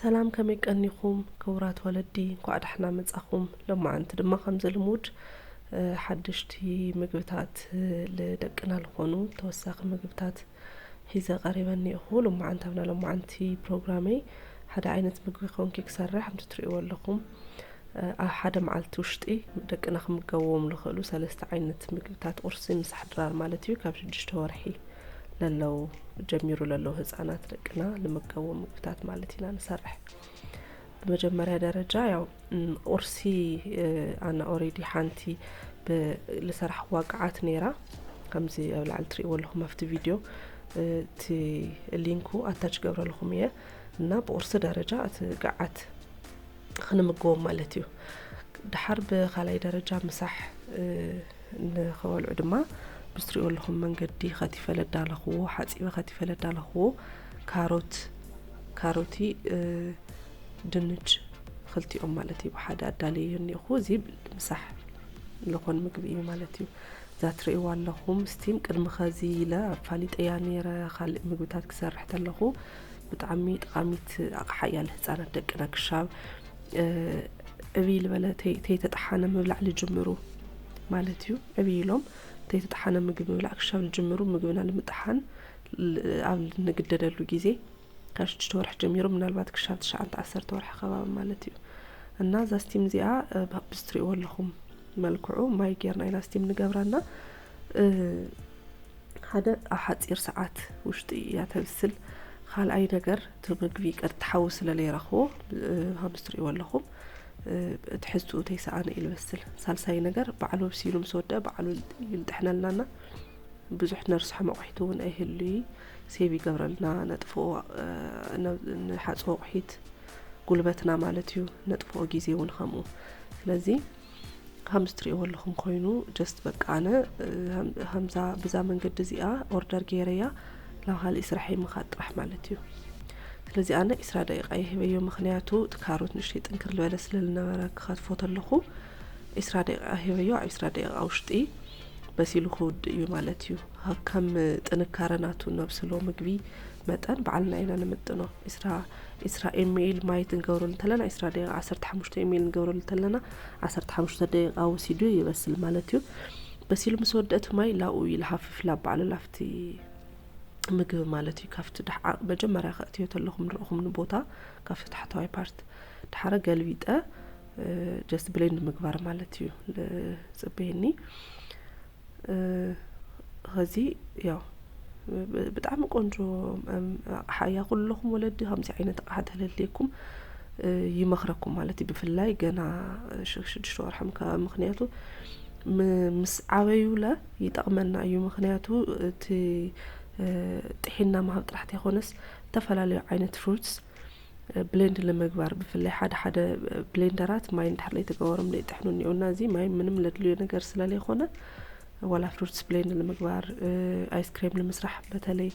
ሰላም ከመይ ቀኒኹም ክቡራት ወለዲ እንኳዕ ዳሕና መጻኹም ሎማዓንቲ ድማ ከምዚ ልሙድ ሓድሽቲ ምግብታት ልደቅና ልኾኑ ተወሳኺ ምግብታት ሒዘ ቀሪበ እኒኦኹ ሎማዓንቲ ኣብና ሎማዓንቲ ፕሮግራመይ ሓደ ዓይነት ምግቢ ኮንኪ ክሰርሕ ከምቲ ትሪእዎ ኣለኹም ኣብ ሓደ መዓልቲ ውሽጢ ደቅና ክምገብዎም ዝኽእሉ ሰለስተ ዓይነት ምግብታት ቁርሲ ምሳሕ ድራር ማለት እዩ ካብ ሽዱሽተ ወርሒ ለለው ጀሚሩ ለለው ህፃናት ደቅና ልምገቡ ምግብታት ማለት ኢና ንሰርሕ ብመጀመሪያ ደረጃ ያው ቁርሲ ኣነ ኦሬዲ ሓንቲ ልሰራሕዋ ቅዓት ነይራ ከምዚ ኣብ ላዕሊ ትሪእዎ ኣለኹም ኣብቲ ቪድዮ እቲ ሊንኩ ኣታች ገብረልኹም እየ እና ብቁርሲ ደረጃ እቲ ቅዓት ኽንምግቦም ማለት እዩ ድሓር ብካልኣይ ደረጃ ምሳሕ ንኸበልዑ ድማ ብስትሪኦ ኣለኹም መንገዲ ኸቲፈ ለዳለኽዎ ሓፂበ ኸቲፈ ለዳለኽዎ ካሮት ካሮቲ ድንች ክልቲኦም ማለት እዩ ብሓደ ኣዳለየ እኒኹ እዚ ምሳሕ ዝኾን ምግቢ እዩ ማለት እዩ እዛ ትርእይዋ ኣለኹም ስቲም ቅድሚ ኸዚ ኢለ ኣፋሊጠያ ነይረ ካልእ ምግብታት ክሰርሕ ተለኹ ብጣዕሚ ጠቃሚት ኣቕሓ እያ ንህፃናት ደቅና ክሻብ ዕብይ ልበለ ተይተጠሓነ ምብላዕ ልጅምሩ ማለት እዩ ዕብይ ኢሎም ተይተጠሓነ ምግቢ ምብላዕ ክሻብ ልጅምሩ ምግብና ንምጥሓን ኣብ ንግደደሉ ግዜ ካብ ሽዱሽተ ወርሒ ጀሚሩ ምናልባት ክሻብ ትሽዓተ ዓሰርተ ወርሒ ከባቢ ማለት እዩ እና እዛ ስቲም እዚኣ ብዝትሪእዎ ኣለኹም መልክዑ ማይ ጌርና ኢና ስቲም ንገብራና ሓደ ኣብ ሓጺር ሰዓት ውሽጢ እያ ተብስል ካልኣይ ነገር እቲ ምግቢ ቀጥቲ ሓዊ ስለ ለይረኽቦ ከምዚ ትርእይዎ ኣለኹም ትሕዝትኡ ተይሰኣነ እዩ ዝበስል ሳልሳይ ነገር ባዕሉ ኣብሲሉ ምስ ወድአ ባዕሉ ይልጥሕነልናና ብዙሕ ነርስሖ መቑሒት እውን ኣይህሉ እዩ ሴቭ ይገብረልና ነጥፍኦ ንሓፅቦ ኣቑሒት ጉልበትና ማለት እዩ ነጥፍኦ ግዜ እውን ከምኡ ስለዚ ከምዚ ትሪእዎ ኣለኹም ኮይኑ ጀስት በቃ ኣነ ከምዛ ብዛ መንገዲ እዚኣ ኦርደር ገይረያ ናብ ካሊእ ስራሐይ ምኻድ ጥራሕ ማለት እዩ ስለዚ ኣነ ኢስራ ደቂቃ ይህበዮ ምክንያቱ እቲ ካሮት ንእሽተይ ጥንክር ዝበለ ስለ ዝነበረ ክኸትፎ ተለኹ ኢስራ ደቂቃ ሂበዮ ኣብ ኢስራ ደቂቃ ውሽጢ በሲሉ ክውድ እዩ ማለት እዩ ከም ጥንካረ ናቱ ነብስሎ ምግቢ መጠን በዓልና ኢና ንምጥኖ ኢስራ ዕስራ ኤሜይል ማይ ትንገብረሉ እንተለና ዕስራ ደቂቃ ዓሰርተ ሓሙሽተ ኤሜይል ንገብረሉ እንተለና ዓሰርተ ሓሙሽተ ደቂቃ ወሲዱ ይበስል ማለት እዩ። በሲሉ ምስ ወድአ እቲ ማይ ላብኡ ይልሃፍፍ ላብ ባዕሉ ላፍቲ ምግቢ ማለት እዩ ካብቲ ድሓ መጀመርያ ከእትዮ ተለኹም ንረኹም ንቦታ ካብቲ ታሕተዋይ ፓርት ድሓረ ገልቢጠ ጀስት ብሌንድ ምግባር ማለት እዩ ጽበየኒ ኸዚ ያው ብጣዕሚ ቆንጆ ኣቕሓ እያ ኩለኹም ወለዲ ከምዚ ዓይነት ኣቕሓ ተለልየኩም ይመኽረኩም ማለት እዩ ብፍላይ ገና ሽዱሽተ ወርሖም ከባቢ ምክንያቱ ምስ ዓበዩለ ይጠቕመና እዩ ምክንያቱ እቲ ጥሒና ምሃብ ጥራሕ ተይኮነስ ዝተፈላለዩ ዓይነት ፍሩትስ ብሌንድ ንምግባር ብፍላይ ሓደ ሓደ ብሌንደራት ማይ እንድሕር ዘይተገበሮም ዘይጥሕኑ እኒኦ እና እዚ ማይ ምንም ለድልዮ ነገር ስለለይኮነ ዋላ ፍሩትስ ብሌንድ ንምግባር ኣይስክሬም ንምስራሕ በተለይ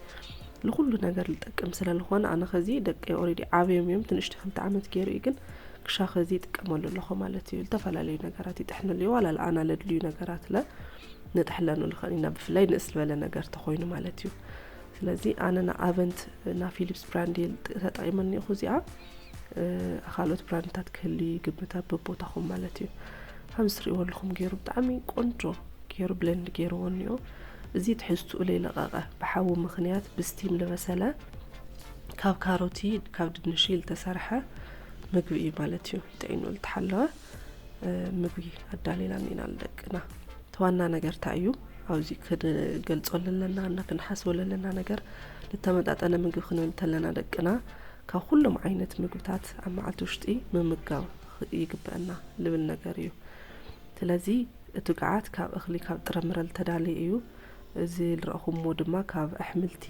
ንኩሉ ነገር ዝጠቅም ስለዝኾነ ኣነ ከዚ ደቂ ኦሬዲ ዓብዮም እዮም ትንሽቲ ክልተ ዓመት ገይሩ እዩ ግን ክሻ ከዚ ይጥቀመሉ ኣለኹ ማለት እዩ ዝተፈላለዩ ነገራት ይጥሕንሉ እዩ ዋላ ለኣና ለድልዩ ነገራት ለ ንጥሕለኑ ንኽእል ኢና ብፍላይ ንእስ ዝበለ ነገር ተኮይኑ ማለት እዩ ስለዚ ኣነ ን ኣቨንት እና ፊሊፕስ ብራንዲል ተጠቂመ እኒኹ እዚኣ ኣካልኦት ብራንድታት ክህልዩ ይግምት ኣብ በቦታኹም ማለት እዩ ከም ዝትሪእዎ ኣለኹም ገይሩ ብጣዕሚ ቆንጆ ገይሩ ብለንድ ገይርዎ እኒኦ እዚ ትሕዝትኡ ለይለቐቐ ብሓዊ ምክንያት ብስቲም ልበሰለ ካብ ካሮቲ ካብ ድንሽ ዝተሰርሐ ምግቢ እዩ ማለት እዩ ጥዒኑ ልተሓለወ ምግቢ ኣዳሊና ኢና ንደቅና እቲ ዋና ነገር እንታይ እዩ ኣብዚ ክንገልፆ ዘለና እና ክንሓስቦ ዘለና ነገር ዝተመጣጠነ ምግቢ ክንብል እንተለና ደቅና ካብ ኩሎም ዓይነት ምግብታት ኣብ መዓልቲ ውሽጢ ምምጋብ ይግበአና ልብል ነገር እዩ ስለዚ እቲ ግዓት ካብ እኽሊ ካብ ጥረምረ ዝተዳለየ እዩ እዚ ዝረእኹምዎ ድማ ካብ ኣሕምልቲ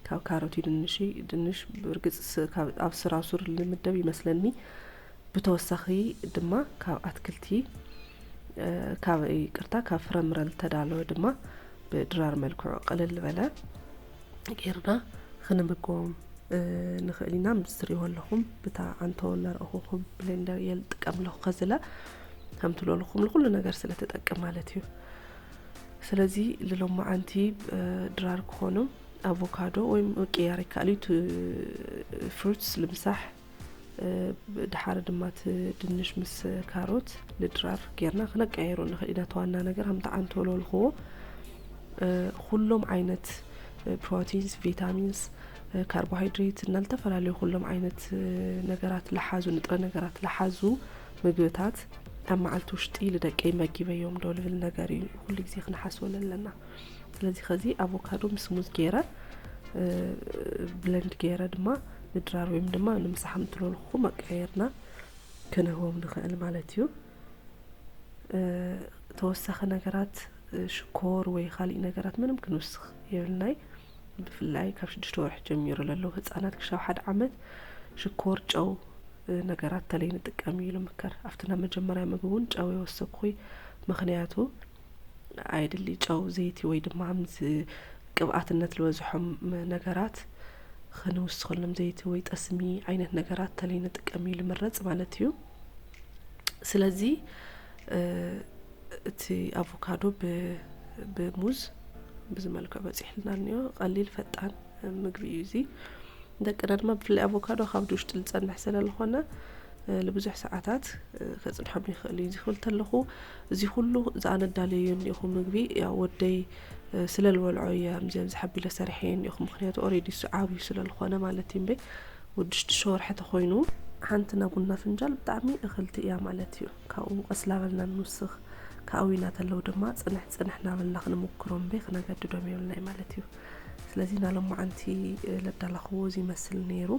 ካብ ካሮት ድንሽ ድንሽ ብርግፅ ካብ ኣብ ስራሱር ልምደብ ይመስለኒ ብተወሳኺ ድማ ካብ ኣትክልቲ ካብ ይቅርታ ካብ ፍረምረ ዝተዳለወ ድማ ብድራር መልክዑ ቅልል ዝበለ ጌርና ክንምገቦም ንኽእል ኢና ምስ ትሪእዎ ኣለኹም ብታ ኣንቶ እናረእኹኹም ብሌንደር እየ ዝጥቀም ኣለኹ ከዝለ ከምቲ ለልኹም ንኩሉ ነገር ስለ ተጠቅም ማለት እዩ ስለዚ ልሎማዓንቲ ድራር ክኾኑ ኣቮካዶ ወይም ቅያር ይከኣል እዩ ፍሩትስ ልምሳሕ ድሓር ድማ እቲ ድንሽ ምስ ካሮት ንድራር ጌርና ክነቀያይሮ ንኽእል ኢና ተዋና ነገር ሃምቲ ዓንቶሎ ልኽዎ ኩሎም ዓይነት ፕሮቲንስ ቪታሚንስ ካርቦሃይድሬት እና ዝተፈላለዩ ኩሎም ዓይነት ነገራት ልሓዙ ንጥረ ነገራት ልሓዙ ምግብታት ኣብ መዓልቲ ውሽጢ ልደቀይ መጊበዮም ዶ ልብል ነገር እዩ ኩሉ ግዜ ክንሓስበሉ ኣለና ስለዚ ከዚ ኣቮካዶ ምስ ሙዝ ገይረ ብለንድ ገይረ ድማ ምድራር ወይም ድማ ንምሳሕ ምትለልኹ መቀየርና ክንህቦም ንኽእል ማለት እዩ ተወሳኺ ነገራት ሽኮር ወይ ካሊእ ነገራት ምንም ክንውስኽ የብልናይ ብፍላይ ካብ ሽዱሽተ ወርሒ ጀሚሩ ለለዉ ህፃናት ክሻብ ሓደ ዓመት ሽኮር ጨው ነገራት ተለይ ንጥቀም እዩ ልምከር ኣብቲ ናብ መጀመርያ ምግቢ እውን ጨው የወሰኩኹይ ምክንያቱ ኣየድሊ ጨው ዘይቲ ወይ ድማ ምስ ቅብኣትነት ዝበዝሖም ነገራት ክንውስኸሎም ዘይቲ ወይ ጠስሚ ዓይነት ነገራት ተለይ ንጥቀም እዩ ልምረፅ ማለት እዩ ስለዚ እቲ ኣቮካዶ ብሙዝ ብዚ መልክዕ በፂሕልና እኒኦ ቀሊል ፈጣን ምግቢ እዩ እዚ ደቅና ድማ ብፍላይ ኣቮካዶ ካብ ድውሽጢ ዝፀንሕ ስለዝኾነ ንብዙሕ ሰዓታት ከፅንሖም ይኽእል እዩ ዝኽብል ተለኹ እዚ ኩሉ እዚ ኣነ ኣዳልየዮ እኒኦኹ ምግቢ ያው ወደይ ስለ ልበልዖ እየ ኣምዚኦም ዝሓቢለ ሰሪሐዮ እኒኦኹ ምክንያቱ ኦሬዲ እሱ ዓብዩ ስለ ልኾነ ማለት እዩ እምበይ ወዲ ሽዱሽተ ወርሒ ተኾይኑ ሓንቲ ናይ ቡና ፍንጃል ብጣዕሚ እኽልቲ እያ ማለት እዩ ካብኡ ቀስ ላበልና ንውስኽ ካብኡ እናተለዉ ድማ ፅንሕ ፅንሕ እናበልና ክንምክሮ እምበይ ክነገድዶም የብልናይ ማለት እዩ ስለዚ ናሎማዓንቲ ለዳላኽዎ እዚ ይመስል ነይሩ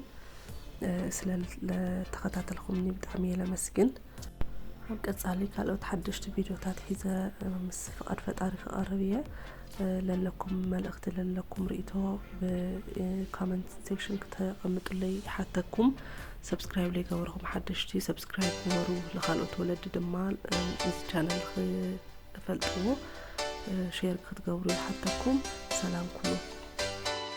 ስለ ለተኸታተልኹምኒ ብጣዕሚ እየ ለመስግን ኣብ ቀፃሊ ካልኦት ሓደሽቲ ቪድዮታት ሒዘ ምስ ፍቃድ ፈጣሪ ክቐርብ እየ። ለለኩም መልእኽቲ ለለኩም ርእቶ ብካመንት ሴክሽን ክተቐምጡለይ ይሓተኩም። ሰብስክራይብ ለይገበርኹም ሓደሽቲ ሰብስክራይብ ግበሩ። ንካልኦት ወለዲ ድማ እዚ ቻነል ክፈልጥዎ ሼር ክትገብሩ ይሓተኩም። ሰላም ኩኑ።